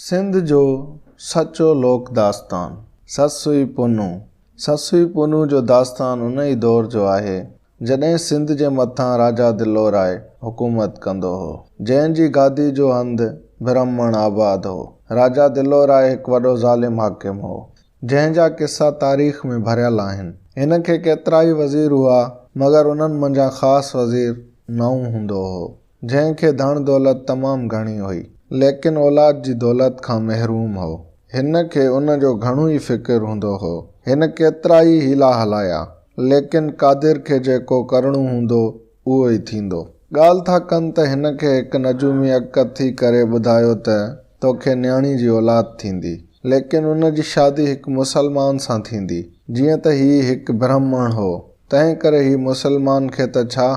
سنڌ جو سچو لوڪ داستان سسوي پونو، سسوي پونو جو داستان ان ئي دور جو آهي، جڏهن سنڌ جي مٿان راجا دلوراء حڪومت ڪندو هو، جنهن جي گادي جو هنڌ برهمڻ آباد هو. راجا دلوراء هڪ وڏو ظالم حاڪم هو، جنهن جا قصا تاريخ ۾ ڀريل آهن. هن کي ڪيترائي وزير هئا، مگر انهن منجهان خاص وزير نوح هوندو هو، جنهن کي ڌڻ دولت تمام گهڻي هئي، ليڪن اولاد جي دولت کان محروم هو. هن کي ان جو گهڻو ئي فڪر هوندو هو. هن ڪيترائي حيلا هلايا، ليڪن قادر کي جيڪو ڪرڻو هوندو، اهو ئي ٿيندو. ڳالهه ٿا ڪن ته هن کي هڪ نجومي اڳڪٿ ٿي ڪري ٻڌايو ته توکي نياڻي جي اولاد ٿيندي، ليڪن ان جي شادي هڪ مسلمان سان ٿيندي. جيئن ته هي هڪ برهمڻ هو، تنهن ڪري هي مسلمان کي ته ڇا،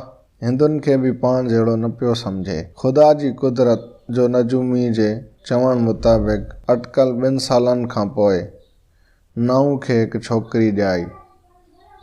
هندن کي به پاڻ جهڙو نه پيو سمجهي. خدا جي قدرت جو نجومي جي چوڻ مطابق اٽڪل ٻن سالن کان پوء، نائون کي هڪ ڇوڪري ڄائي،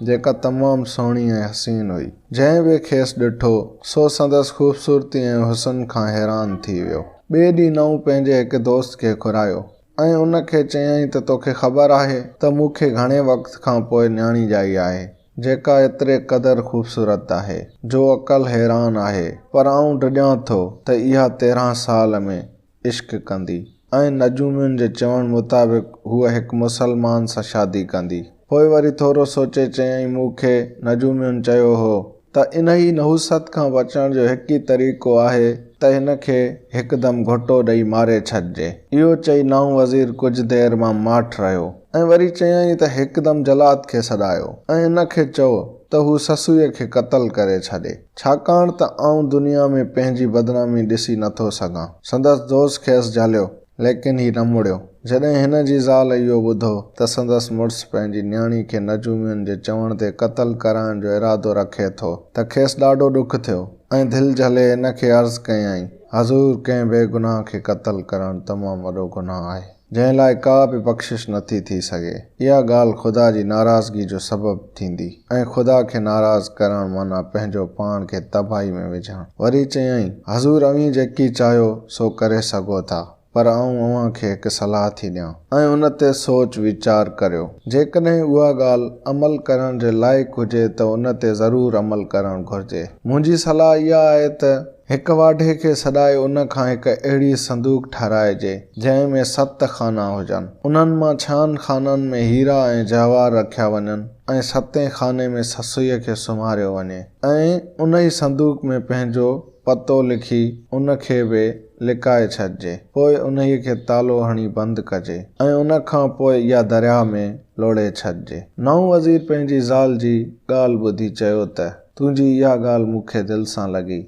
جيڪا تمام سهڻي ۽ حسين هئي. جنهن به کيس ڏٺو، سو سندس خوبصورتي ۽ حسن کان حيران ٿي ويو. ٻئي ڏينهن نائون پنهنجي هڪ دوست کي گهرايو ۽ ان کي چيائين ته توکي خبر آهي ته مون کي گهڻي وقت کان پوء نياڻي ڄائي آهي، جيڪا ايتري قدر خوبصورت آهي، جو عقل حيران آهي، پر آئون ڊڄان ٿو ته اها تيرهن سال ۾ عشق ڪندي ۽ نجومين جي چوڻ مطابق هوء هڪ مسلمان سان شادي ڪندي. پوء وري ٿورو سوچي چيائين مون کي نجومين چيو هو ته انهيء نحوست کان بچڻ جو هڪ ئي طريقو آهي ته هن کي هڪدم گهوٽو ڏئي ماري ڇڏجي. اهو چئي نائون وزير ڪجهه دير مان ماٺ رهيو ۽ وري چيائين ته هڪدم جلاد کي سڏايو ۽ ان کي چئو ته هو سسويء کي قتل ڪري ڇڏي. ڇاڪاڻ ته آئون دنيا ۾ پنهنجي بدنامي ڏسي نه ٿو سگهان. سندس دوست کيس جهليو، ليڪن هي نه مڙيو. جڏهن هن جي زال اهو ٻڌو ته سندس مڙس پنهنجي نياڻي کي نجومين جي چوڻ تي قتل ڪرائڻ جو ارادو رکي ٿو ته کيس ڏاڍو ڏک ٿيو ۽ دل جهلي هن کي عرض ڪيائين، حضور! ڪنهن بي گناهه کي قتل ڪرڻ تمام وڏو گناهه آهي. جنهن لاء ڪا به بخشش نٿي ٿي سگهي. اها ڳالهه خدا جي ناراضگي جو سبب ٿيندي ۽ خدا کي ناراض ڪرڻ معنيٰ پنهنجو پاڻ کي تباهي ۾ وجهڻ. وري چيائين، حضور اوهين جيڪي چاهيو سو ڪري سگهو ٿا، پر آئون اوهان کي هڪ صلاح ٿي ڏيان ۽ ان تي سوچ ويچار ڪريو. جيڪڏهن اها ڳالهه عمل ڪرڻ جي لائق هجي ته ان تي ضرور عمل ڪرڻ گهرجي. منهنجي صلاح اها آهي ته هڪ واڍي کي سڏائي ان کان هڪ اهڙي صندوق ٺهرائجي، جنهن ۾ ست خانا هجن. انهن مان ڇهن خانن ۾ هيرا ۽ جواهر رکيا وڃن ۽ ستين خاني ۾ سسئيء کي سمهاريو وڃي ۽ انهي صندوق ۾ پنهنجو پتو لکي ان کي به لڪائي ڇڏجي. پوء انهيء کي تالو هڻي بند ڪجي ۽ ان کان پوء اها درياهه ۾ لوڙهي ڇڏجي. نئون وزير پنهنجي زال جي ڳالهه ٻڌي چيو ته. تنهنجي اها ڳالهه مون کي دل سان لڳي،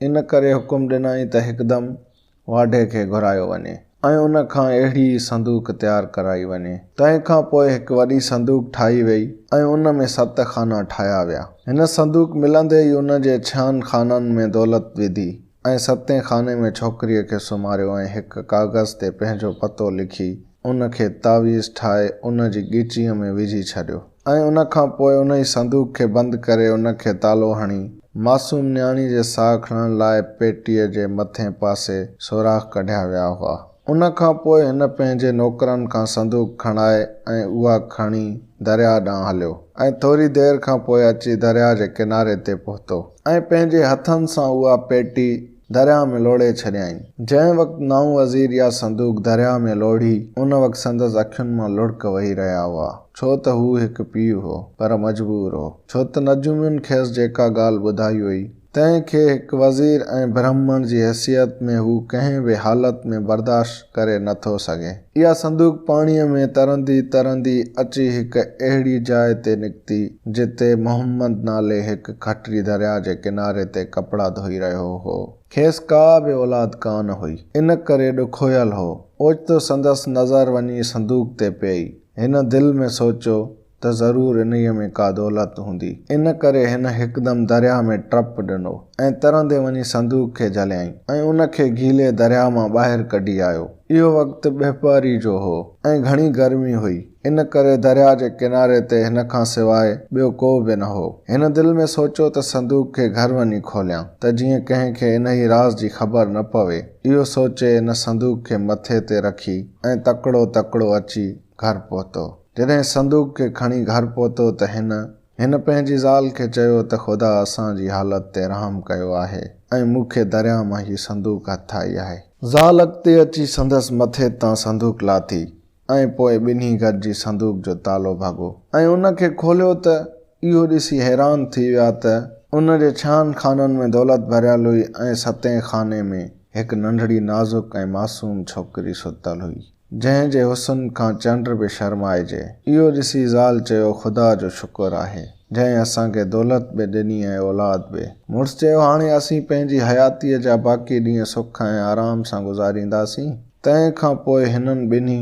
ان ڪري حڪم ڏنائين ته هڪدم واڍي کي گهرايو وڃي ۽ ان کان اهڙي ئي صندوق تيار ڪرائي وڃي. تنهن کان پوء هڪ وڏي صندوق ٺاهي ويئي ۽ ان ۾ ست خانا ٺاهيا ويا. هن صندوق ملندي ئي ان جي ڇهن خانن ۾ دولت وڌي. ۽ ستين خاني ۾ ڇوڪريء کي سمهاريو ۽ هڪ ڪاغذ تي پنهنجو پتو لکي ان کي تعويذ ٺاهي ان جي ڳچيء ۾ وجهي ڇڏيو ۽ ان کان پوء ان ئي صندوق کي بند ڪري ان کي تالو هڻي معصوم نياڻي جي ساهه کڻڻ لاء پيٽيء جي مٿئين پاسي سوراخ ڪڍيا ويا هئا. ان کان پوء هن پنهنجي نوڪرن کان صندوق کڻائي ۽ اها کڻي درياهه ڏانهن هليو ۽ ٿوري دير کان پوء اچي درياهه جي ڪناري تي پهتو ۽ پنهنجي هٿن سان اها پيٽي درياهه ۾ لوڙهي ڇڏيائين. جنهن وقت نائون وزير اها صندوق درياهه ۾ لوڙهي، ان وقت سندس اکين مان لڙڪ وهي رهيا هئا، ڇو ته هو هڪ پيء هو، پر مجبور هو، ڇو ته نجومين کيس جيڪا ڳالهه ٻڌائي هئي، تنهن کي هڪ وزير ۽ برهمڻ جي حيثيت ۾ هو ڪنهن به حالت ۾ برداشت ڪري نه ٿو سگهي. اها صندوق پاڻيء ۾ ترندي ترندي اچي هڪ اهڙي جاء تي نڪتي، جتي محمد نالي هڪ کٽري درياء جي ڪناري تي ڪپڙا ڌوئي رهيو هو. کيس ڪا به اولاد ڪانه هئي، ان ڪري ڏکويل هو. اوچتو سندس نظر وڃي صندوق تي پيئي. هن دل ۾ سوچيو ته ضرور انهيء ۾ ڪا دولت هوندي. ان ڪري هن هڪدم درياهه ۾ ٽپ ڏنو ۽ ترندي وڃي صندوق کي جهليائين ۽ ان کي گيلي درياهه مان ٻاهر ڪڍي آيو. اهو وقت ٻهپهري جو هو ۽ گهڻي گرمي هئي، ان ڪري درياهه جي ڪناري تي هن کان سواء ٻيو ڪو به نه هو. هن دل ۾ سوچيو ته صندوق کي گهر وڃي کوليان، ته جيئن ڪنهن کي انهيء راز جي خبر نه پوي. اهو سوچي هن صندوق کي مٿي تي رکي ۽ تڪڙو تڪڙو اچي گهر پهتو. جڏهن صندوق کي کڻي گهر پهتو ته هن هن پنهنجي زال کي چيو ته خدا اسان جي حالت تي رحم ڪيو آهي ۽ مون کي درياء مان هي صندوق هٿ آئي آهي. زال اڳتي اچي سندس مٿي تان صندوق لاٿي ۽ پوء ٻنهي گڏجي صندوق جو تالو ڀڳو ۽ ان کي کوليو ته اهو ڏسي حيران ٿي ويا ته ان جي ڇهن خانن ۾ دولت ڀريل هئي ۽ ستين خاني ۾ هڪ ننڍڙي نازڪ ۽ معصوم ڇوڪري ستل هئي. جنهن جي حسن کان چنڊ به شرمائجي. اهو ڏسي زال چيو خدا جو شڪر آهي جنهن اسان کي دولت به ڏني ۽ اولاد به. مڙس چيو هاڻي اسين پنهنجي حياتيء جا باقي ڏينهن سک ۽ آرام سان گذارينداسين. تنهن کان پوء هنن ٻنهي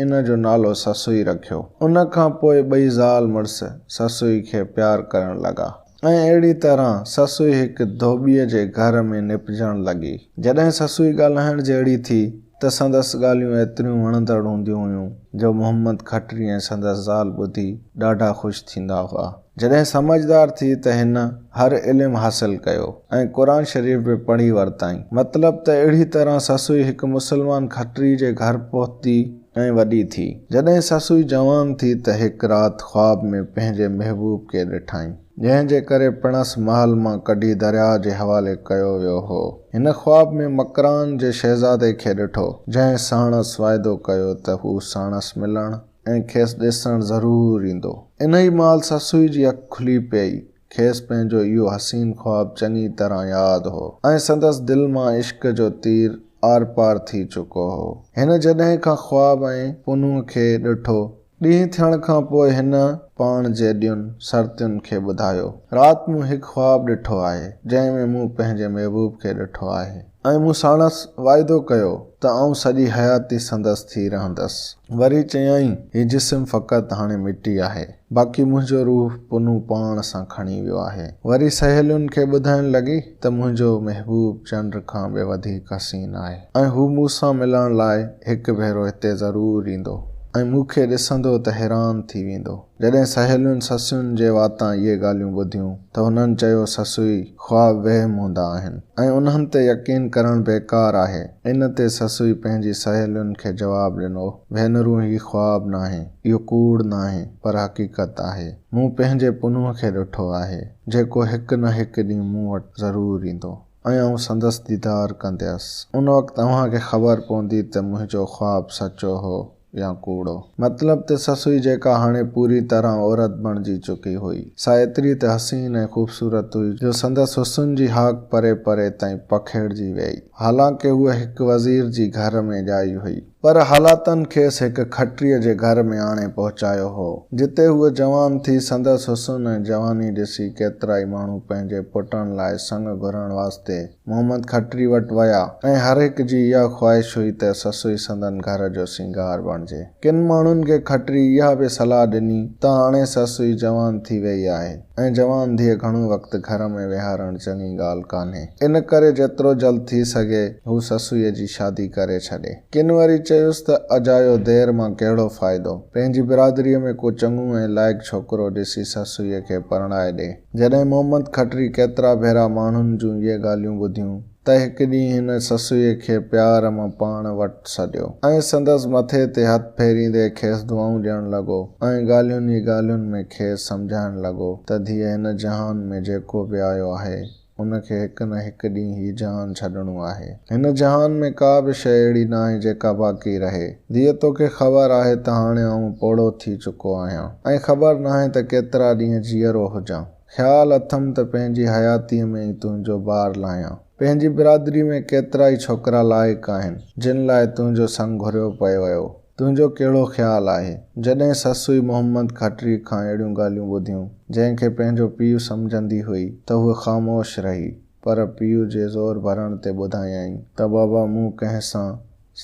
ان جو نالو سسئي رکيو. ان کان پوء ٻئي زال مڙس سسئي کي پيار ڪرڻ لڳا ۽ اهڙي طرح سسئي هڪ ڌوٻيء جي گهر ۾ نپجڻ لڳي. جڏهن سسئي ڳالهائڻ جهڙي ٿي ته سندس ڳالهيون ايتريون وڻندڙ هونديون هيون، جو محمد کٽري ۽ سندس زال ٻڌي ڏاڍا خوش ٿيندا هئا. جڏهن سمجهدار ٿي ته هن هر علم حاصل ڪيو ۽ قرآن شريف به پڙهي ورتائين. مطلب ته اهڙي طرح سسئي هڪ مسلمان کٽري جي گهر پهتي ۽ وڏي ٿي. جڏهن سسئي جوان ٿي ته هڪ رات خواب ۾ پنهنجي محبوب کي ڏٺائين. جنهن جي ڪري پڻس محل مان ڪڍي درياهه جي حوالي ڪيو ويو هو. هن خواب ۾ مڪران جي شهزادي کي ڏٺو، جنهن ساڻس واعدو ڪيو ته هو ساڻس ملڻ ۽ کيس ڏسڻ ضرور ايندو. انهي مهل سسئي جي اک کلي پيئي. کيس پنهنجو اهو حسين خواب چڱي طرح ياد هو ۽ سندس دل مان عشق جو تير آرپار ٿي چڪو هو. هن جڏهن کان خواب ۽ پنهونء کي ڏٺو ڏينهن ٿيڻ کان پوء هن پاڻ جيڏيون سرتين کي ٻڌايو، رات مون هڪ خواب ڏٺو آهي، جنهن ۾ مون پنهنجي محبوب کي ڏٺو آهي ۽ مون ساڻس واعدو ڪيو ته آئون سڄي حياتي سندس ٿي رهندس. وري چيائين، هي جسم فقط هاڻي مٽي آهي، باقي منهنجو روح پنهون پاڻ سان کڻي ويو آهي. وري سهيلين کي ٻڌائڻ لڳي. ته منهنجو محبوب چنڊ کان به وڌيڪ حسين آهي ۽ هو مون سان ملڻ لاء هڪ ڀيرو هتي ضرور ايندو ۽ مون کي ڏسندو ته حيران ٿي ويندو. جڏهن سهيلين سسين جي واتان اهي ڳالهيون ٻڌيون ته هنن چيو سسئي خواب وهم هوندا آهن ۽ انهن تي يقين ڪرڻ بيڪار آهي. ان تي سسئي پنهنجي سهيلين کي جواب ڏنو ڀينرون هي خواب ناهي اهو ڪوڙ ناهي پر حقيقت آهي مون پنهنجي پنهونء کي ڏٺو آهي. جيڪو هڪ نه هڪ ڏينهن مون وٽ ضرور ايندو ۽ آئون سندس ديدار ڪنديس. ان وقت اوهان کي خبر پوندي ته منهنجو خواب سچو هو يا ڪوڙو. مطلب ته سسئي جيڪا هاڻي پوري طرح عورت بڻجي چڪي هئي، سا ايتري ته حسين ۽ خوبصورت هئي جو سندس حسن جي هاڪ پري پري تائين پکيڙجي ويئي. حالانڪه هوء هڪ وزير جي گهر ۾ ڄائي هئي. پر حالاتن کيس هڪ کٽريء جي گهر ۾ آڻي پهچايو هو، جتي هوء جوان ٿي، سندس حسن ۽ جواني ڏسي ڪيترائي ماڻهو پنهنجي پٽن لاء سڱ گهرڻ واسطي محمد کٽري وٽ ويا ۽ هر هڪ جي اها خواهش هئي ته سسئي سندن گهر جو سينگار بڻجي. ڪن ماڻهن کي کٽري اها به صلاح ڏني ته هاڻي سسئي جوان ٿي ويئي آهي. ۽ جوان ڌيء گهڻو وقت گهر ۾ ويهارڻ چڱي ڳالهه ڪانهي. ان ڪري جيترو جلد ٿي سگهي هو سسئيء جي شادي ڪري ڇڏي. ڪن وري چيس ته اجايو دير مان ڪهڙو فائدو. پنهنجي برادريء ۾ ڪو چڱو ۽ لائق ڇوڪرو ڏسي سسئيء کي پرڻائي ڏي. جڏهن محمد کٽري ڪيترا ڀيرا ماڻهن جون اهي ڳالهيون ٻڌيون ته هڪ ڏينهن هن سسئيء کي پيار مان پاڻ وٽ سڏيو ۽ سندس مٿي تي هٿ ڦيريندي کيس دعائون ڏيڻ لڳو ۽ ڳالهين ئي ڳالهين ۾ کيس سمجهائڻ لڳو ته ڌيء هن جهان ۾ جيڪو به آيو آهي ان کي هڪ نه هڪ ڏينهن هي جهان ڇڏڻو آهي. هن جهان ۾ ڪا به شيء اهڙي ناهي جيڪا باقي رهي. ڌيء توکي خبر آهي ته هاڻي آئون پوڙهو ٿي چڪو آهيان ۽ خبر ناهي ته ڪيترا ڏينهن جيئرو هجان. خيال اٿم ته پنهنجي حياتيء ۾ ئي تنهنجو بار لاهيان. پنهنجي برادري ۾ ڪيترائي ڇوڪرا لائق آهن، جن لاء تنهنجو سڱ گهريو پيو ويو. تنهنجو ڪهڙو خيال آهي؟ جڏهن سسئي محمد کٽريء کان اهڙيون ڳالهيون ٻڌيون، جنهن کي پنهنجو پيء سمجهندي هئي، ته هوء خاموش رهي، پر پيء جي زور ڀرڻ تي ٻڌايائين ته بابا مون ڪنهن سان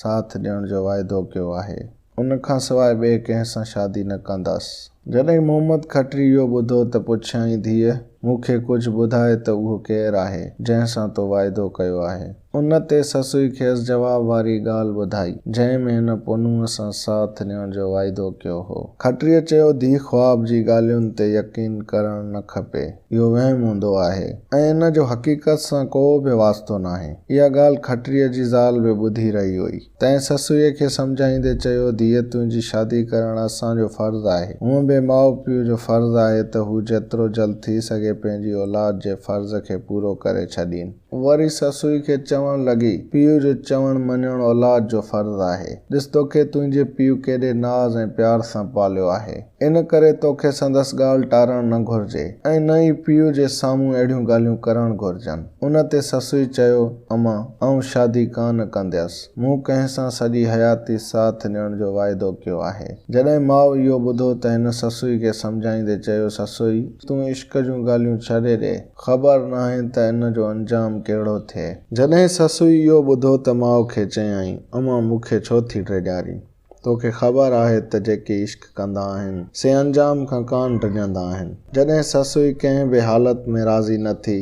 ساٿ ڏيڻ جو واعدو ڪيو آهي. ان کان سواء ٻئي ڪنهن سان شادي نه ڪنداس. جڏهن محمد کٽري اهو ٻڌو ته پڇيائين ڌيء، مون کي ڪجهه ٻڌاء ته اهو ڪير آهي، جنهن سان تو واعدو ڪيو آهي؟ ان تي سسئي کيس جواب واري ڳالهه ٻڌائي، جنهن ۾ هن پنهونء سان ساٿ ڏيڻ جو واعدو ڪيو هو. کٽريء چيو، ڌيء خواب جي ڳالهين تي يقين ڪرڻ نه کپي. اهو وهم هوندو آهي ۽ ان جو حقيقت سان ڪو به واسطو ناهي. اها ڳالهه کٽريء جي زال به ٻڌي رهي هئي. تنهن سسئيء کي سمجهائيندي چيو، ڌيء تنهنجي شادي ڪرڻ اسان جو فرض آهي. هونء به ماء پيء جو فرض آهي ته هو جيترو جلد ٿي سگهي پنهنجي اولاد جي فرض کي پورو ڪري ڇڏين. وري سسئي کي چوڻ لڳي، پيء جو چوڻ مڃڻ اولاد جو فرض آهي. ڏس توکي تنهنجي پيء ڪيڏي ناز ۽ پيار سان پاليو آهي. ان ڪري توکي سندس ڳالهه ٽارڻ نه گهرجي ۽ نه ئي پيء جي سامهون اهڙيون ڳالهيون ڪرڻ گهرجن. ان تي سسئي چيو، اما، آئون شادي ڪا نه ڪنديس. مون ڪنهن سان سڄي حياتي ساٿ ڏيڻ جو واعدو ڪيو آهي. جڏهن ماء اهو ٻڌو ته هن سسئي کي سمجهائيندي چيو، سسئي، تون عشق جون ڳالهيون ڇڏي ڏي. خبر ناهي ته ان جو انجام ڪهڙو ٿئي. جڏهن سسئي اهو ٻڌو ته ماء کي چيائين، اما، مون کي ڇو ٿي ڊيڄارين؟ توکي خبر آهي ته جيڪي عشق ڪندا آهن سي انجام کان ڪانه ڊڄندا آهن. جڏهن سسئي ڪنهن به حالت ۾ راضي نه ٿي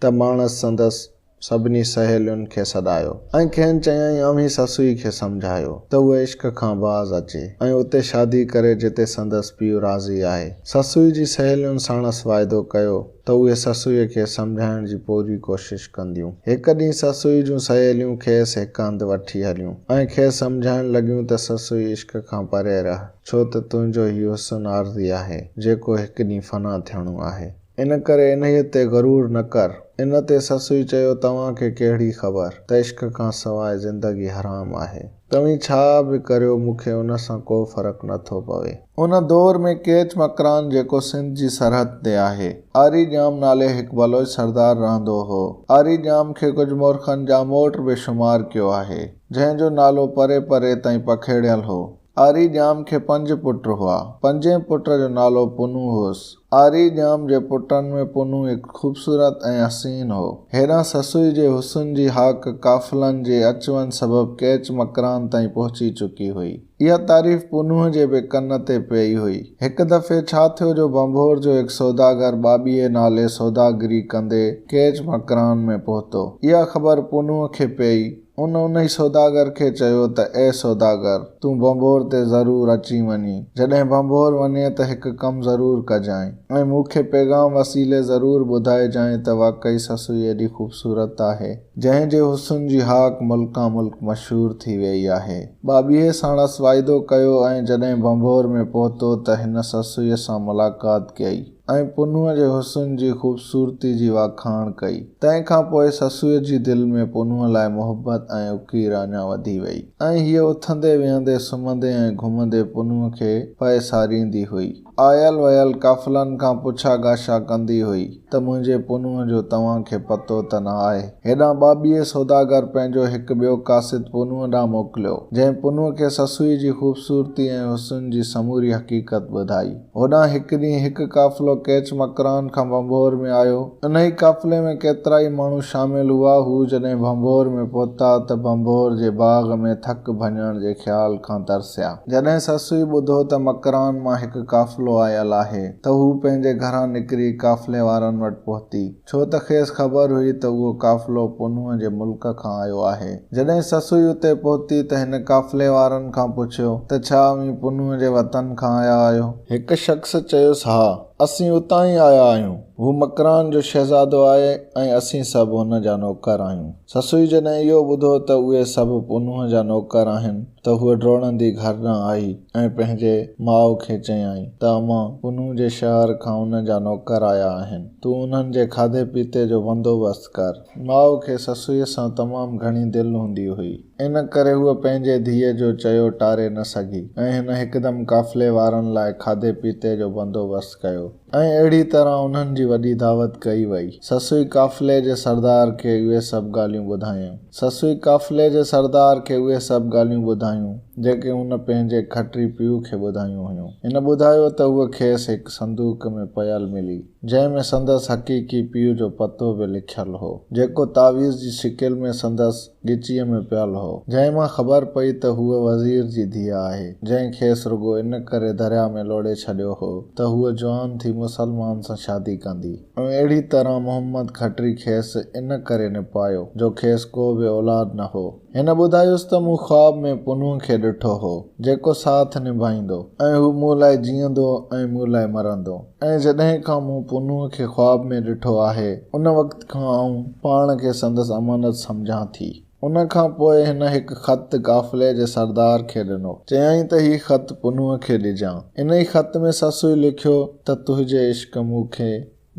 ته ماڻس سندس سڀني سهيلين کي سڏايو ۽ کين چيائين اوهين سسئي کي سمجهايو ته هوء عشق کان باز اچي ۽ اتي شادي ڪري جتي سندس پيء راضي آهي. سسئي جي سهيلين ساڻس واعدو ڪيو. ته اهي سسئيء کي سمجهائڻ جي پوري ڪوشش ڪنديون. هڪ ڏينهن سسئي جون سهيليون کيس هڪ هنڌ وٺي هليون ۽ کيس سمجهائڻ لڳيون ته سسئي عشق کان پري رهه، ڇو ته تنهنجو هي حسن عارضي آهي، جيڪو هڪ ڏينهن فنا ٿيڻو آهي. ان ڪري انهيء تي غرور نه ڪر. ان تي سسئي چيو توهان کي ڪهڙي خبر ته عشق کان سواء زندگي حرام آهي. توهين ڇا به ڪريو مون کي ان سان ڪو فرق نه ٿو پوي. ان دور ۾ ڪيچ مڪران جيڪو سنڌ جي سرحد تي آهي، آري ڄام نالي هڪ بلوچ سردار رهندو هو. آري ڄام کي ڪجهه مورخن ڄاموٽ به شمار ڪيو آهي، جنهن جو نالو پري پري تائين پکيڙيل هو. آري ڄام کي پنج پٽ هئا. پنجين پٽ جو نالو پنهون هوس. آري ڄام جي پٽن ۾ پنهون هڪ خوبصورت ۽ حسين هو. هيڏانهن سسئي جي حسن جي هاڪ قافلن جي اچ وڃ سبب ڪيچ مڪران تائين پهچي چڪي هئي. اها تعريف پنهون جي به ڪن تي پئي هئي. هڪ دفعي ڇا ٿيو جو ڀنڀور جو هڪ سوداگر ٻاٻيهي نالي سوداگري ڪندي ڪيچ مڪران ۾ پهتو. اها خبر پنهون کي پئي. ان انهي سوداگر کي چيو ته اي سوداگر! تون ڀنڀور تي ضرور اچي وڃين. جڏهن ڀنڀور وڃين ته هڪ ڪم ضرور ڪجانء ۽ مون کي پيغام وسيلي ضرور ٻڌائجانء ته واقعي سسئي ايڏي خوبصورت آهي، جنهن جي حسن جي هاڪ ملڪان ملڪ مشهور ٿي ويئي آهي. ٻاٻيهي ساڻس واعدو ڪيو ۽ جڏهن ڀنڀور ۾ پهتو ته هن سسئيء سان ملاقات ڪيئي. ۽ پنهونء جي حسن جي خوبصورتي جي واکاڻ ڪئي. تنهن کان پوء سسوء جي دل ۾ پنهونء لاء محبت ۽ اڪير اڃا وڌي ويئي ۽ هيء اٿندي ويهندي، سمهندي ۽ گهمندي پنهونء کي پئي ساريندي هئي. آيل ويل قافلن کان پڇا ڳاشا ڪندي هئي ته منهنجي پنهونء جو توهان کي پتو ته نه آهي؟ هيڏانهن ٻاٻيهي سوداگر پنهنجو هڪ ٻيو قاصد پنهونء ڏانهن موڪليو، جنهن پنهونء کي سسوء جي خوبصورتي ۽ حسن جي سموري حقيقت ٻڌائي. هوڏانهن هڪ ڏينهن هڪ قافلو ڪيچ مڪران کان ڀنڀور ۾ آيو. انهيء قافلي ۾ ڪيترائي ماڻهو شامل هئا. هو جڏهن ڀنڀور ۾ پهتا ته ڀنڀور جي باغ ۾ ٿڪ ڀڃڻ جي خيال کان ترسيا. جڏهن سسئي ٻڌو ته مڪران مان هڪ قافلو آيل آهي ته هو پنهنجي گهران نڪري قافلي وارن وٽ پهتي. ڇو ته کيس خبر هئي ته اهو قافلو پنهونء جي ملڪ کان آيو آهي. جڏهن سسئي اتي پهتي ته هن قافلي وارن کان پڇيو ته ڇا اوهين پنهونء جي وطن کان آيا آهيو؟ هڪ شخص چيس ها، اسين اتان ئي آيا آهيون. هو مڪران جو شهزادو آهي ۽ اسين سڀ هن جا نوڪر آهيون. سسئي جڏهن اهو ٻڌو ته اهي سڀ پنهونء جا نوڪر آهن، ته هوء ڊوڙندي گهر ڏانهن آئي ۽ پنهنجي ماء کي چيائين ته اما پنهون جي شهر کان ان جا نوڪر آيا آهن، تون انهن جي کاڌي پيتي جو بندوبست ڪر. ماء کي سسئيء سان تمام گهڻي دل هوندي هئي، ان ڪري هوء پنهنجي ڌيء جو چيو ٽاري نه سگهي ۽ هن هڪدم قافلي وارن لاء کاڌي پيتي جو بندوبست ڪيو. ۽ اهڙي طرح انهن جي وڏي دعوت ڪئي وئي. سسوئي قافلي جي سردار کي اهي سڀ ڳالهيون ٻڌايائون. سسوئي قافلي جي سردار کي اهي سڀ ڳالهيون ٻڌايون، جيڪي هن پنهنجي کٽري پيء کي ٻڌايون هيون. هن ٻڌايو ته هوء کيس هڪ صندوق ۾ پيل ملي، جنهن ۾ سندس حقيقي پيء جو پتو به لکيل هو، جيڪو تعويذ جي شڪل ۾ سندس ڳچيء ۾ پيل هو، جنهن مان خبر پئي ته هوء وزير جي ڌيء آهي، جنهن کيس رڳو ان ڪري درياء ۾ لوڙهي ڇڏيو هو ته هوء جوان ٿي مسلمان سان شادي ڪندي. ۽ اهڙيء طرح محمد کٽري کيس ان ڪري نپايو، جو کيس ڪو به اولاد نه هو. هن ٻڌايس ته مون خواب ۾ پنهونء کي ڏٺو هو، جيڪو ساٿ نڀائيندو، ۽ هو مون لاء جيئندو ۽ مون لاء مرندو. ۽ جڏهن کان مون پونو کي خواب ۾ ڏٺو آهي، ان وقت کان آئون پاڻ کي سندس امانت سمجهان ٿي. ان کان پوء هن هڪ خط قافلي جي سردار کي ڏنو. چيائين ته هي خط پونو کي ڏجان. انهي خط ۾ سسوء لکيو ته تنهنجي عشق مون کي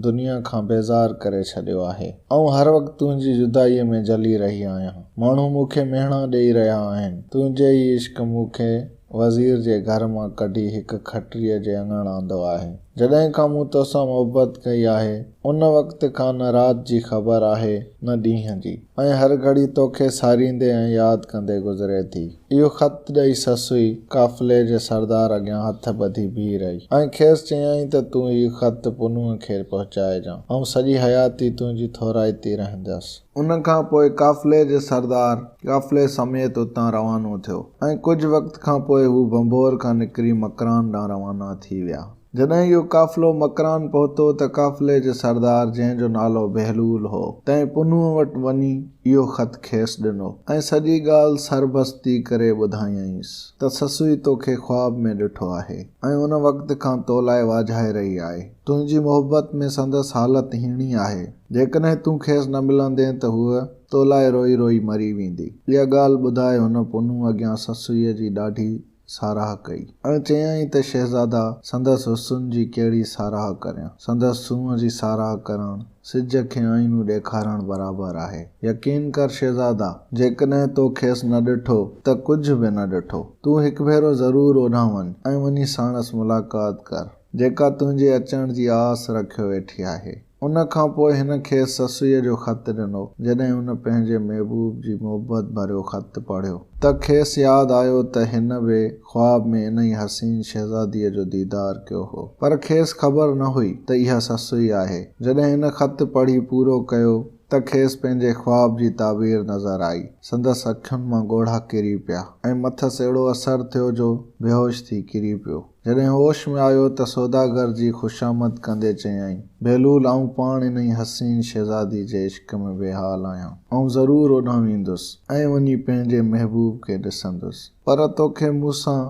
دنيا کان بيزار ڪري ڇڏيو آهي. آئون هر وقت تنهنجي جدائيء ۾ جلي رهي آهيان. ماڻهو مون کي ميڻا ڏيئي رهيا آهن. تنهنجي ئي عشق مون کي وزير جي گهر مان ڪڍي هڪ کٽريء جي اڱڻ آندو آهي. جڏهن کان مون توسان محبت ڪئي آهي، ان وقت کان نه رات جي خبر آهي، نه ڏينهن جي، ۽ هر گهڙي توکي ساريندي ۽ ياد ڪندي گذري ٿي. اهو خط ڏئي سسئي قافلي جي سردار اڳيان هٿ ٻڌي بيهي رهي ۽ کيس چيائين ته تون هي خط پنهونء کي پهچائجان. آئون سڄي حياتي تنهنجي ٿورائتي رهندس. ان کان پوء قافلي جي سردار قافلي سميت اتان روانو ٿيو ۽ ڪجهه وقت کان پوء هو ڀنڀور کان نڪري مڪران ڏانهن روانا ٿي ويا. جڏهن اهو قافلو مڪران پهتو ته قافلي جي سردار جنهن جو نالو بهلول هو، تنهن پنهونء وٽ وڃي اهو خط کيس ڏنو ۽ سڄي ڳالهه سربستي ڪري ٻڌايائينس ته سسئي توکي خواب ۾ ڏٺو آهي ۽ ان وقت کان تو لاء واجهائي رهي آهي. تنهنجي محبت ۾ سندس حالت هيڻي آهي. جيڪڏهن تون کيس نه ملندين ته هوء تو لاء روئي روئي مري ويندي. اها ڳالهه ٻڌائي هن پنهون اڳيان سسئيء جي ڏاڍي ساراهه ڪئي ۽ چيائين ته شهزادا سندس حسن جي ڪهڙي ساراهه ڪريان. سندس سونهن جي ساراهه ڪرڻ سج کي آئينو ڏيکارڻ برابر آهي. يقين ڪر شهزادا، جيڪڏهن تو کيس نه ڏٺو ته ڪجهه به نه ڏٺو. تون هڪ ڀيرو ضرور اوڏانهن وڃ ۽ وڃي ساڻس ملاقات ڪر. جيڪا تنهنجي اچڻ جي آس رکيو ويٺي آهي. ان کان پوء هن کيس سسئيء جو خط ڏنو. جڏهن هن پنهنجي محبوب جي محبت ڀريو خط پڙهيو ته کيس ياد آيو ته هن به خواب ۾ انهي حسين شهزاديء جو ديدار ڪيو هو. پر کيس خبر نه هئي ته اها سسئي آهي. جڏهن هن خط پڙهي پورو ڪيو ته کيس پنهنجي خواب جي تعبير نظر آئي. سندس اکين مان ڳوڙها ڪري پيا ۽ مٿس اهڙو اثر ٿيو جو بيهوش ٿي ڪري پيو. جڏهن هوش ۾ آيو ته سوداگر جي خوشامد ڪندي چيائين، بهلول آئون پاڻ انهي حسين شهزادي جي عشق ۾ بي حال آهيان. آئون ضرور اوڏانهن ويندس ۽ وڃي پنهنجي محبوب کي ڏسندس. پر توکي مون سان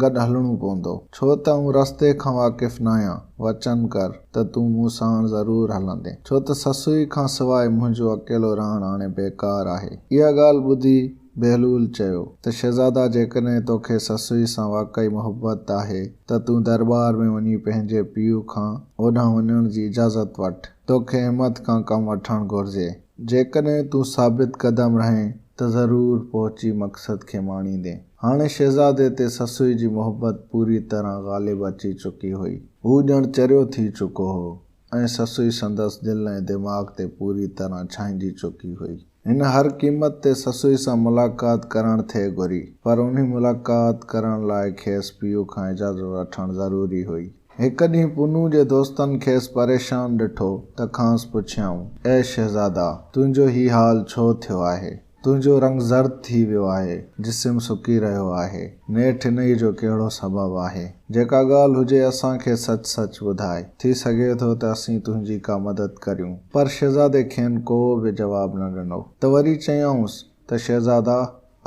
گڏ هلڻو پوندو. ڇو ته آئون رستي کان واقف ناهيان. وچن ڪر ته تون مون ساڻ ضرور هلندين. ڇو ته سسئي کان سواء منهنجو اڪيلو رهڻ هاڻي بيڪار آهي. اها ڳالهه ٻڌي بهلول چيو ته شهزادا جيڪڏهن توکي سسئي سان واقعي محبت آهي ته تون درٻار ۾ وڃي پنهنجي پيء کان اوڏانهن وڃڻ جي اجازت وٺ. توکي همٿ کان ڪم وٺڻ گهرجي. جيڪڏهن تون ثابت قدم رهين ته ضرور پهچي مقصد کي ماڻيندين. هاڻي شهزادي تي سسئي جي محبت پوري طرح غالب اچي چڪي هئي. هو ڄڻ چريو ٿي چڪو هو ۽ سسئي سندس دل ۽ دماغ تي پوري طرح ڇائنجي چڪي هئي. هن هر قيمت تي سسئي سان ملاقات ڪرڻ ٿي گهري، پر انهي ملاقات ڪرڻ لاء کيس پيء کان اجازت وٺڻ ضروري هئي. هڪ ڏينهن پونو جي دوستن کيس پريشان ڏٺو ته کانئس پڇيائون، اي شهزادا! تنهنجو هي حال ڇو ٿيو آهي؟ تنهنجو رنگ زرد ٿي ويو آهي، جسم سڪي رهيو آهي. نيٺ انهي جو ڪهڙو سبب آهي؟ جيڪا ڳالهه هجي اسان کي سچ سچ ٻڌاء. ٿي سگهي ٿو ته اسين تنهنجي ڪا مدد ڪريون. پر شهزادي کين ڪو به جواب نه ڏنو ته وري چيائونس ته شهزادا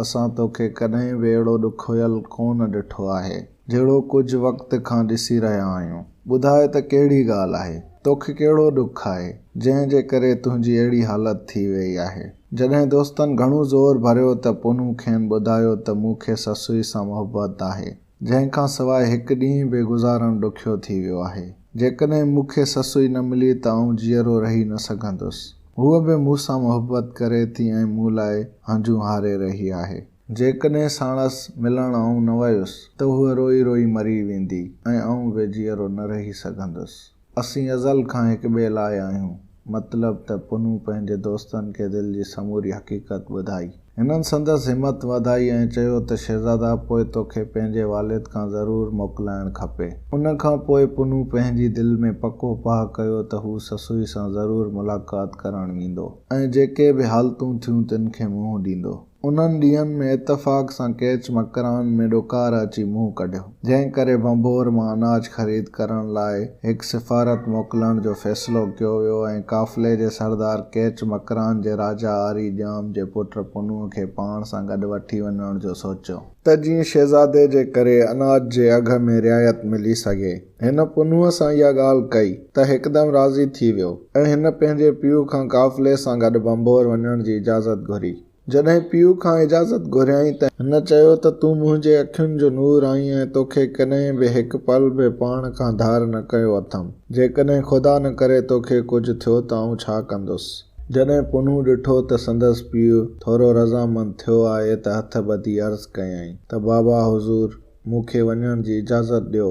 اسان توکي ڪڏهن به اهڙو ڏکويل ڪونه ڏٺو آهي جهڙو ڪجهه وقت کان ڏسي رهيا آهيون. ٻڌاء ته ڪهڙي ڳالهه آهي؟ توکي ڪهڙو ڏک آهي جنهن جي ڪري تنهنجي اهڙي حالت ٿي ويئي آهي؟ جڏهن دوستن گهڻو زور ڀريو ته پونو کين ٻڌايو ته مون کي سسئي سان محبت آهي. جنهن کان سواء هڪ ڏينهن به گذارڻ ڏکيو ٿي ويو آهي. جيڪڏهن مون کي سسئي نه ملي ته آئون جيئرو رهي نه سگهندس. هوء به مون سان محبت ڪري ٿي ۽ مون لاء هنجون هاري رهي آهي. جيڪڏهن ساڻس ملڻ آئون نه ويس ته هوء روئي روئي مري ويندي ۽ آئون به جيئرو نه رهي سگهندس. اسين ازل کان هڪ ٻئي لاء آهيون. مطلب ته پنهون پنهنجي دوستن کي دل جي سموري حقيقت ٻڌائي. هنن سندس همت وڌائي ۽ چيو ته شهزادا پوء توکي پنهنجي والد کان ضرور موڪلائڻ کپي. ان کان پوء پنهون پنهنجي دل ۾ پڪو پاهه ڪيو ته هو سسئي سان ضرور ملاقات ڪرڻ ويندو ۽ جيڪي به حالتون ٿيون تن کي منهن ڏيندو. انهن ڏينهن ۾ اتفاق سان ڪيچ مڪران ۾ ڏڪار اچي منهن ڪڍيو، جنهن ڪري ڀنڀور مان اناج خريد ڪرڻ لاء هڪ سفارت موڪلڻ جو فيصلو ڪيو ويو ۽ قافلي جي سردار ڪيچ مڪران جي راجا آري ڄام جي پٽ پنهونء کي پاڻ سان گڏ وٺي وڃڻ جو سوچيو، ته جيئن شهزادي جي ڪري اناج جي اگهه ۾ رعايت ملي سگهي. هن پنهونء سان اها ڳالهه ڪئي ته هڪدم راضي ٿي ويو ۽ هن پنهنجي پيء کان قافلي سان گڏ ڀنڀور وڃڻ جي اجازت گهري. جڏهن پيء کان اجازت گهريائين ته. هن چيو ته تون منهنجي اکين جو نور آهين ۽ توکي ڪڏهن به هڪ پل به پاڻ کان ڌار نه ڪيو اٿم. جيڪڏهن خدا نه ڪري توکي ڪجهه ٿيو ته آئون ڇا ڪندس؟ جڏهن پنهون ڏٺو ته سندس پيء ٿورو رضامند ٿيو آهي ته هٿ ٻڌي عرض ڪيائين ته بابا حضور! مون کي وڃڻ جي اجازت ڏيو،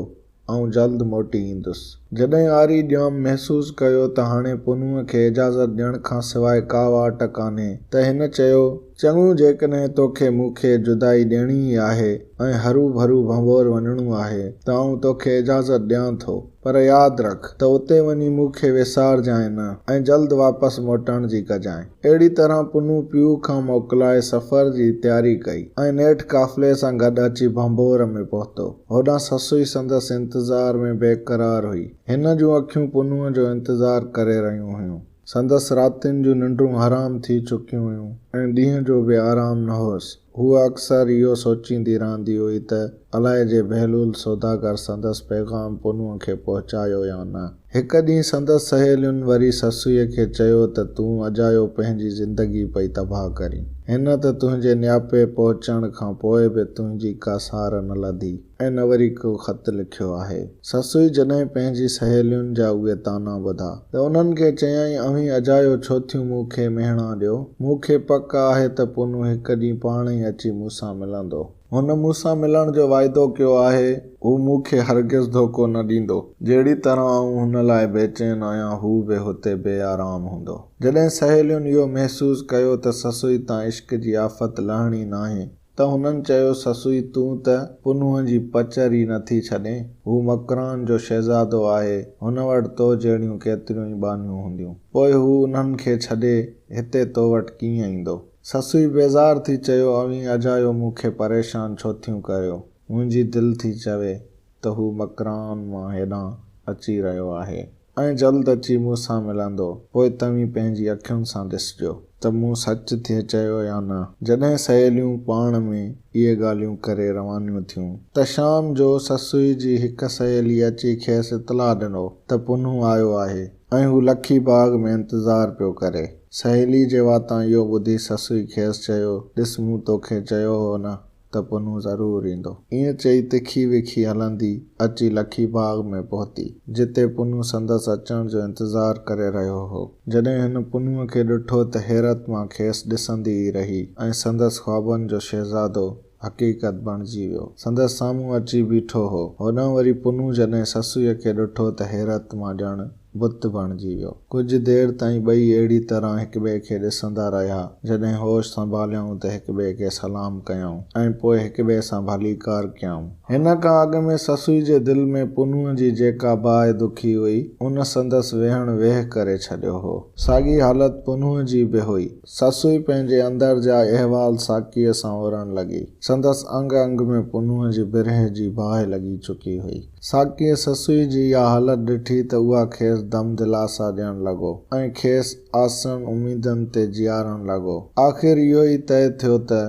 آئون جلد موٽي ايندس. جڏهن آري ڄام محسوس ڪيو ته هاڻي پنهونء کي اجازت ڏيڻ کان سواء ڪا واٽ ڪانهي ته هن چيو، چڱو جيڪڏهن توکي مون کي جدائي ڏيڻي ئي آهي ۽ هروڀرو ڀنڀور وڃڻو آهي ته آئون توکي اجازت ڏيان ٿو. پر ياد رک ته اتي وڃي مون کي وسارجانء نه ۽ جلد واپس موٽڻ جي ڪجانء. اهڙي طرح پنهون پيو کان موڪلائي سفر جي تياري ڪئي ۽ نيٺ قافلي سان گڏ اچي ڀنڀور ۾ پهتو. هوڏانهن سسئي سندس انتظار ۾ بيقرار هئي. هن جون اکيون پنهون جو انتظار ڪري رهيون هيون. سندس راتين جون ننڊون حرام ٿي چڪيون هيون ۽ ڏينهن جو به آرام نه هوس. هوء اڪثر اهو سوچيندي رهندي هئي ته الائي جي بهلول سوداگر سندس پيغام پونوء کي پهچايو يا نه. هڪ ڏينهن سندس سهيلين وري سسئيء کي چيو ته تون اجايو پنهنجي زندگي پئي تباهه ڪرين. هن ته تنهنجي نياپي پهچڻ کان پوء به تنهنجي ڪا سار نه لڌي. ۽ نه وري ڪو خط لکيو آهي. سسئي جڏهن پنهنجي سهيلين جا اهي طعنا ٻڌا ته انهن کي چيائين اوهين اجايو ڇو ٿيون مون کي مهڻا ڏيو. مون کي پڪ آهي ته پونو هڪ ڏينهن پاڻ ئي اچي مون سان ملندو. هن مون سان ملڻ جو واعدو ڪيو آهي. هو مون کي هرگز ڌوڪو نه ڏيندو. جهڙي طرح آئون هن لاء بيچين آهيان هو به هتي بي آرام هوندو. جڏهن سهيلين اهو محسوس ڪيو ته سسئي تان عشق جي آفت لهڻي ناهي. ته هنن چيو سسوئي تون ته پنهونء جي پچر ئي نٿي ڇڏين، هو مڪران جو شهزادو آهي، هن وٽ تو جهڙيون ڪيتريون ئي ٻانهيون هونديون، پوء هو انهن کي ڇڏي هتي تو وٽ ڪيئن ايندو؟ سسوئي بيزار ٿي چيو اوهين اجايو مون کي پريشان ڇو ٿيون ڪريو، منهنجي دل ٿي چوي ته هو مڪران مان هيڏانهن اچي رهيو آهي. ۽ جلد اچي مون سان ملندو، پوء توهين پنهنجي اکين سان ڏسجو ته مون سچ ٿئي چيو يا نه. جڏهن سهيليون پاڻ ۾ اهي ڳالهيون ڪري روانيون ٿيون ته شام جو سسئي جي هڪ سهيلي اچي کيس اطلاع ڏنو ته پنهون آيو آهي ۽ هو لکي باغ ۾ انتظار پيو ڪري. سهيلي جي واتان اهو ٻڌي سسئي کيس چيو، ڏس مون توکي چيو هو نه! ته پنهون ضرور ايندو. ائين چئي تکي وکي هلندي اچي لکي باغ ۾ پهتي، جتي پنهون سندس اچڻ جو انتظار ڪري رهيو هو. جڏهن هن پنهونء کي ڏٺو ته حيرت مان کيس ڏسندي ئي رهي ۽ سندس خوابن جو شهزادو حقيقت بڻجي ويو. سندس سامهون اچي بيٺو هو. هوڏانهن وري پنهون جڏهن سسئيء کي ڏٺو ته حيرت مان ڄڻ. بت بڻجي ويو. ڪجهه دير تائين ٻئي اهڙي طرح هڪٻئي کي ڏسندا رهيا، جڏهن هوش سنڀاليائون ته هڪٻئي کي سلام ڪيائون ۽ پوء هڪٻئي سان ڀليڪار ڪيائون. هن کان اڳ ۾ سسئي جي دل ۾ پنهونء جي جيڪا باهه دکي هئي، ان سندس ويهڻ ويهه ڪري ڇڏيو هو. ساڳي حالت پنهونء جي به هئي. سسئي پنهنجي اندر جا احوال ساقيء سان اورڻ لڳي. سندس انگ انگ ۾ پنهونء جي برهه جي باهه لڳي چڪي هئي. ساقيء سسئي جي اها حالت ڏٺي ته اها کيس دم دلاسا ڏيڻ لڳو ۽ کيس آسن اميدن تي جيارڻ لڳو. آخر اهو ئي طئي ٿيو ته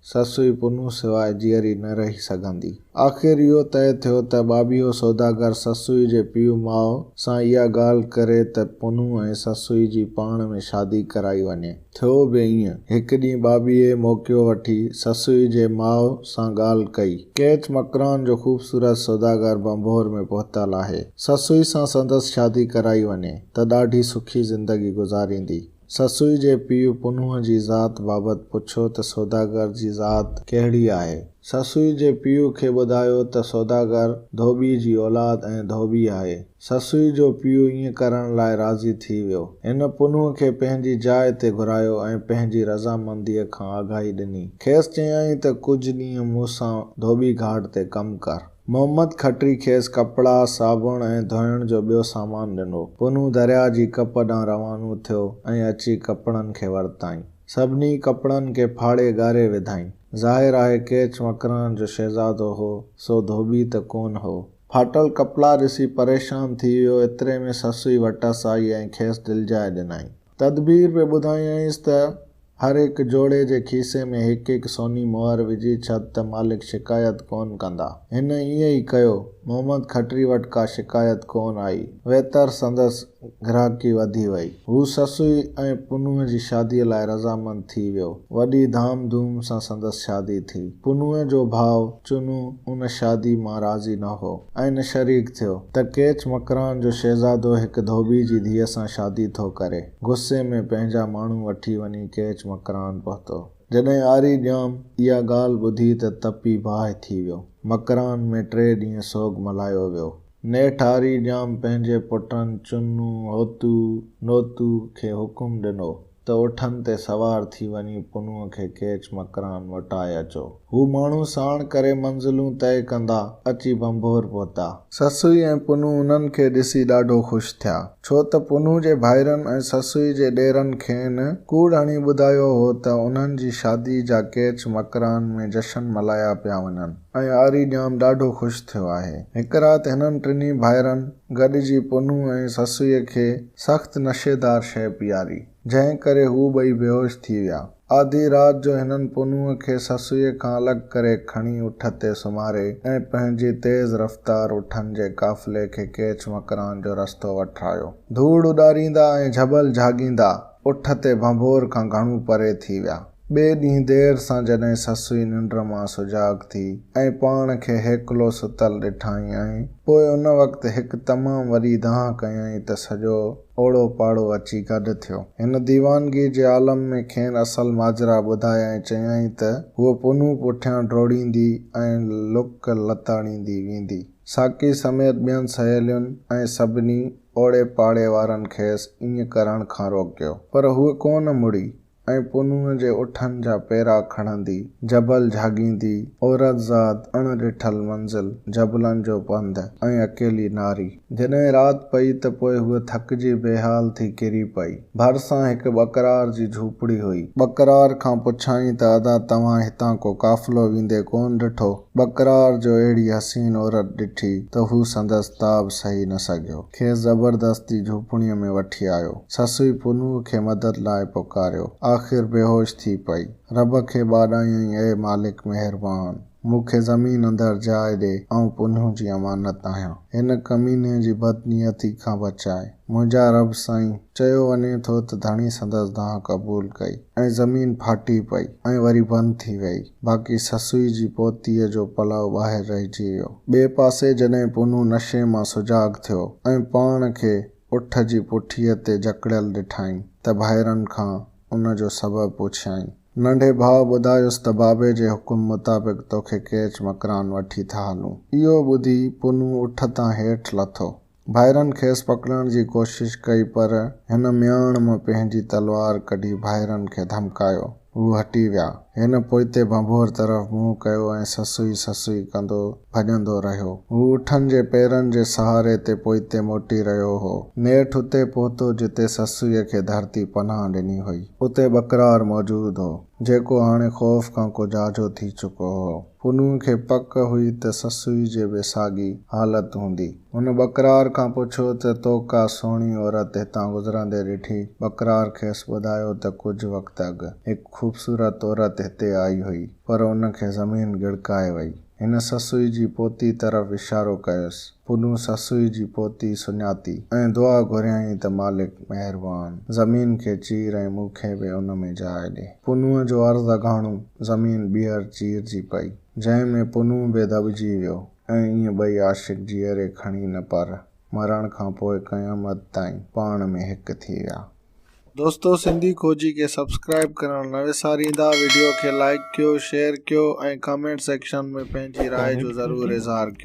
سسئي پنهون سواء جيئري نه رهي سگهندي. آخر اهو طئي ٿيو ته ٻاٻيهو سوداگر سسئي جي پيء ماء سان اها ڳالهه ڪري ته پنهون ۽ سسئي جي پاڻ ۾ شادي ڪرائي وڃي. ٿيو به ائين. هڪ ڏينهن ٻاٻيهي موقعو وٺي سسئي جي ماء سان ڳالهه ڪئي. ڪيچ مڪران جو خوبصورت سوداگر ڀنڀور ۾ پهتل آهي. سسئي سان سندس شادي ڪرائي وڃي ته ڏاڍي سکي زندگي گذاريندي. سسئي جي پيء پنهونء جي ذات بابت پڇيو ته سوداگر جي ذات ڪهڙي آهي؟ سسئي جي پيء کي ٻڌايو ته سوداگر ڌوٻي جي اولاد ۽ ڌوٻي آهي. سسئي جو پيء ائين ڪرڻ لاء راضي ٿي ويو. هن پنهونء کي پنهنجي جاء تي گهرايو ۽ پنهنجي رضامنديء کان آگاهي ڏني. کيس چيائين ته ڪجهه ڏينهن مون سان ڌوٻي گهاٽ تي ڪم ڪر. محمد کٽري کيس ڪپڙا، صابڻ ۽ ڌوئڻ جو ٻيو سامان ڏنو. پنهون درياهه جي ڪپ ڏانهن روانو ٿيو ۽ اچي ڪپڙن کي ورتائين. سڀني ڪپڙن کي ڦاڙي ڳاري وڌائين. ظاهر آهي ڪيچ مڪران جو شهزادو هو، سو ڌوٻي ته ڪونه هو. ڦاٽل ڪپڙا ڏسي پريشان ٿي ويو، ايتري ۾ سسئي وٽس آئي ۽ کيس دلجاء ڏنائين. تدبير پئي ٻڌايائينس ته هر هڪ جوڙي جي کيسي ۾ هڪ هڪ سوني مهر وجهي ڇڏ ته مالڪ شڪايت ڪونه ڪندا. هن ائين ئي ڪيو. محمد کٽري وٽ ڪا شڪايت ڪونه آئي. ويتر سندس گراهڪي وڌي وئي. هو سسئي ۽ پنهونء جي شاديء لاء رضامند ٿي ويو. وڏي ڌام ڌوم سان سندس شادي ٿي. پنهونء جو ڀاء چنو ان شادي مان راضي نه هو ۽ شريڪ ٿيو ته ڪيچ مڪران جو شهزادو هڪ ڌوٻي جي ڌيء سان شادي ٿو ڪري. غصي ۾ پنهنجا ماڻهو وٺي وڃي ڪيچ مڪران پهتو. جڏهن آري ڄام اها ڳالهه ٻڌي ته تپي باهه ٿي ويو. مڪران ۾ ٽي ڏينهن سوڳ ملهايو ويو. نيٺ آري ڄام پنهنجي پٽن چنو، هوتو، نوتو کي حڪم ڏنو ته اٺن تي سوار ٿي وڃي پنهونء کي ڪيچ مڪران موٽائي اچو. هو ماڻهو ساڻ ڪري منزلون طئي ڪندا اچي ڀنڀور پهتا. سسئي ۽ پنهون انهن کي ڏسي ڏاڍو خوش ٿيا، ڇو ته پنهون جي ڀائرن ۽ سسئي جي ڏيرن کين ڪوڙ هڻي ٻڌايو هو ته انهن جي شاديء جا ڪيچ مڪران ۾ جشن ملهايا پيا وڃن ۽ آري ڄام ڏاڍو خوش ٿيو آهي. هڪ رات هنن ٽنهي ڀائرن گڏجي پنهون ۽ سسئيء کي. سخت نشيدار شيء پياري، جنهن ڪري هو ٻئي بيهوش ٿي ويا. آڌيء رات جو هنن پنهونء کي سسئيء کان الڳ ڪري کڻي اٺ تي سمهاري ۽ پنهنجي تيز رفتار اٺن جي قافلي کي ڪيچ مڪران جو رستو وٺرايو. ڌوڙ اڏاريندا ۽ جهٻل جهاڳيندا اٺ تي ڀنڀور کان گهڻو پري ٿي ويا. ٻئي ڏينهن دير سان جڏهن سسئي ننڊ مان سجاڳ ٿي ۽ پاڻ کي هيڪلو ستل ڏٺائين ۽ پوء ان وقت هڪ تمام وڏي دانهن ڪيائين ته سڄو اوڙو پاڙو اچي گڏ ٿيو. هن ديوانگيء جي عالم ۾ کين اصل ماجرا ٻڌائي ۽ چيائين ته هوء پنهون پٺيان ڊوڙيندي ۽ لڪ لتاڙيندي ويندي ساقي سميت ٻين سهيلين ۽ سڀني اوڙي پاڙي وارن کيس ائين ڪرڻ کان روڪيو پر هوء ڪونه مڙي ۽ پنهونء جي اٺن جا پيرا کڻندي، جبل جهاڳيندي، عورت زاد، اڻ ڏٺل منزل، جبلن جو پنڌ ۽ اڪيلي ناري. جڏهن رات پئي ته پوء هوء ٿڪجي بيحال ٿي ڪري پئي. ڀرسان هڪ ٻڪرار جي جهوپڙي هئي. ٻڪرار کان پڇيائين ته ادا توهان هتان ڪو قافلو ويندي ڪونه ڏٺو؟ ٻڪرار جو اهڙي حسين عورت ڏٺي ته هو سندس تاب سهي نه سگهيو. کيس زبردستي جهوپڙيء ۾ وٺي آيو. سسئي پنهونء کي مدد لاء پڪاريو. آخر بيهوش ٿي پئي. رب کي ٻاڏايائين اي مالڪ مهربان! مون کي زمين اندر جاء ڏي. آئون پنهونء جي امانت آهيان. هن ڪميني جي بدنيتي کان بچاء. منهنجا رب سائين! چيو وڃي ٿو ته ڌڻي سندس دانهن قبول ڪئي ۽ زمين ڦاٽي پئي ۽ وري بند ٿي ويئي، باقي سسئي جي پوتيء جو پلئو ٻاهر رهجي ويو. ٻئي پاسي جڏهن پونو نشي مان سجاڳ ٿيو ۽ پاڻ کي اٺ جي پٺيء تي جڪڙيل ڏٺائين ته ڀائرن کان ان جو سبب پڇيائين. ننڍي ڀاء ٻڌايس ته بابي جي حڪم مطابق توکي ڪيچ مڪران وٺي ٿا هلون. اهو ٻڌي پونو اٺ تان هيٺ لٿو. ڀائرن کيس پڪڙڻ جي ڪوشش ڪئي پر هن مياڻ مان پنهنجي تلوار ڪڍي ڀائرن کي ڌمڪايو. هو هٽي ويا. هن پوئتي ڀنڀور طرف منهن ڪيو ۽ سسوئي سسوئي ڪندو ڀڄندو رهيو. هو اٺن جي پيرن جي سهاري تي پوئتي موٽي رهيو هو. نيٺ اتي پهتو جتي سسوئي کي ڌرتي پناهه ڏني هئي. اتي ٻڪرار موجود هو، جيڪو هاڻي خوف کان ڪو جاجهو ٿي چڪو هو. پنهونء کي پڪ هئي ته سسوئي جي به ساڳي حالت هوندي. هن ٻڪرار کان پڇيو ته تو ڪا سهڻي عورت هتان گذرندي ڏٺي؟ ٻڪرار کيس ٻڌايو ته ڪجهه وقت اڳ هڪ خوبصورت عورت هتي آئي هئي، پر ان کي زمين ڳڙڪائي وئي. هن سسئي جي پوتي طرف اشارو ڪيس. پنهون سسئي جي پوتي سڃاتي ۽ دعا گهريائين ته مالڪ مهربان! زمين کي چير ۽ مون کي به ان ۾ جاء ڏي. پنهون جو عرض اگهاڻو زمين ٻيهر چيرجي پئي، جنهن ۾ پنهون به دٻجي ويو. ۽ ايئن ٻئي عاشق جيئري کڻي نه پر مرڻ کان پوء قيامت تائين پاڻ ۾ هڪ ٿي ويا. دوستو سنڌي کوجي کي سبسڪرائيب ڪرڻ نه وساريندا ويڊيو کي لائيڪ ڪيو شيئر ڪيو ۽ ڪامينٽ سيڪشن ۾ پنهنجي راء جو ضرور اظهار ڪيو.